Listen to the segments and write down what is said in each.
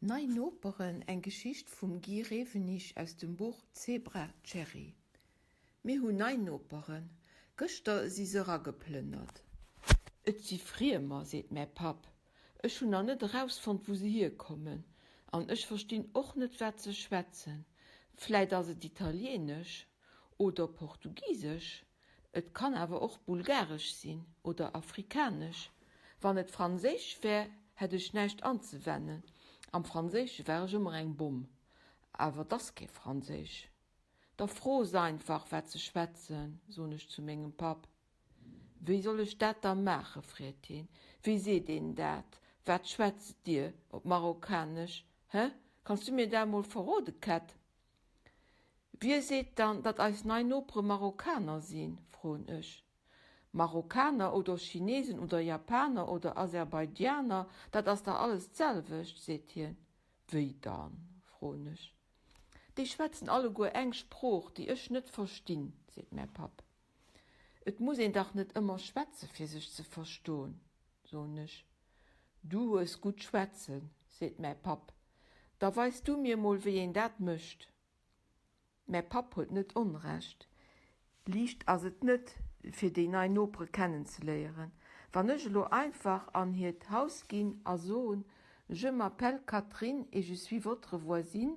Nei Noperen, eng Geschicht vum Guy Rewenig aus dem Buch Zebra Cherry Mir hunn nei Noperen. Gëschter si se erageplënnert. Et si Friemer, seet mäi Papp. Ech hunn nach net erausfonnt, wou se hierkommen. An ech verstinn och net, wat se schwätzen. Vläit ass et Italieenesch oder Portugisesch? Et kann awer och bulgaresch sinn oder afrikanesch. Wann et franséisch wär, hätt ech näischt anzewennen. Am Franséische war ech ëmmer eng Bomm. Awer et ass kee Franséisch. Da fro se einfach, wat se schwätzen, soen ech zu mengem Papp. Wéi soll ech dat da maachen? freet hien. Wéi seet een dat? Wat schwätzt Dir op Marokkanesch? Hä? Kanns du mir dat emol verrode, Kätt? Wie seet dann, datt eis nei Nopere Marokkaner sinn, froen ech. Marokkaner oder Chinesen oder Japaner oder Aserbaidjaner, dat ass dach alles d'selwecht, seet hien. Wéi dann? froen ech. Déi schwätzen alleguer eng Sprooch, déi ech net verstinn, seet mäi Papp. Et muss een dach net ëmmer schwätze fir sech ze verston, soen ech. Du hues gutt schwätzen, seet mäi Papp, da weis du mir mol wéi een dat mécht. Mäi Papp huet net Onrecht, liicht ass et net fir déi nei Nopere kennen ze léieren. Wann ech elo einfach an hiert Haus ginn a soen, Je m'appelle Catherine et je suis votre voisine,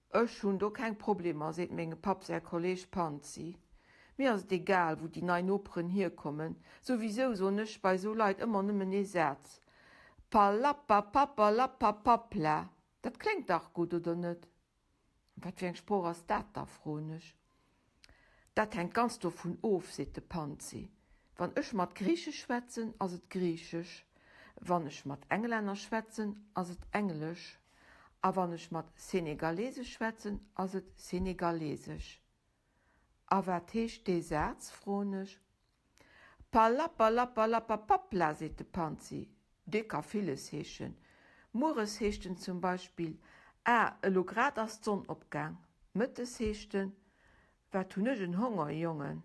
Ech hunn do keng Problemer, seet mengem Papp säi Kolleeg Panzi. Mir ass et egal, wou déi nei Noperen hierkommen. Souwisou soen ech bei esou Leit ëmmer nëmmen ee Saz, Palappapapalappapapla. Dat kléngt dach gutt, oder net? Wat fir eng Sprooch ass dat da? froen ech. Dat hänkt ganz dovun of, seet de Panzi. Wann ech mat Griiche schwätzen, ass et Griichesch, wann ech mat Englänner schwätzen, ass et Englesch a wann ech mat Senegalese schwätzen, ass et Senegalesesch. A wat heescht dee Saz, froen ech. Palappalappalappapapla, seet de Panzi, dee ka villes heeschen. Mueres heescht en zum Beispill, Ah, elo grad ass d'Sonn opgaang. Mëttes heescht en, Wat hunn ech en Honger, Jongen.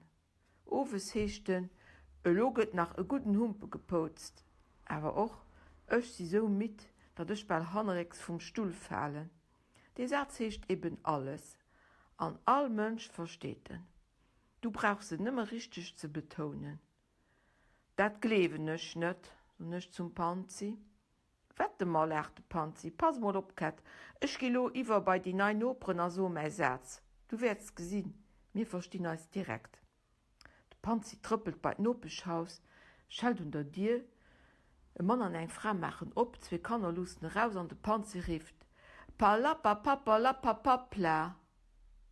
Owes heescht en, Elo gëtt nach e gudden Humpe gepoutzt. Awer och, Ech si sou midd, datt ech bal hannerécks vum Stull falen. Dee Saz heescht eben alles, an all Mënsch versteet en. Du brauchs et nëmme richteg ze betounen. Dat gleewen ech net, soen ech zum Panzi. Wette mer, laacht de Panzi. Pass emol op, Kätt, ech gi lo iwwer bei déi nei Noperen a soe mäi Saz. Du wäerts gesinn, mir verstinn eis direkt. De Panzi trëppelt bei d'Nopeschhaus, schellt un der Dier. E Mann an eng Fra maachen op, zwee Kanner luussen eraus an de Panzi rifft, Palapapappalapapappla!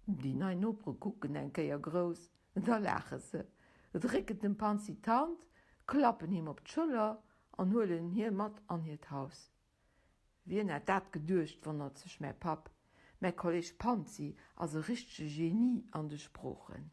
Déi nei Nopere kucken eng Kéier grouss, da laache se, drécken dem Panzi d'Hand, klappen him op d'Schëller an huelen hie mat an hiert Haus. Wien hätt dat geduecht, wonnert sech mäi Papp. Mäi Kolleeg Panzi ass e richtege Genie an de Sproochen.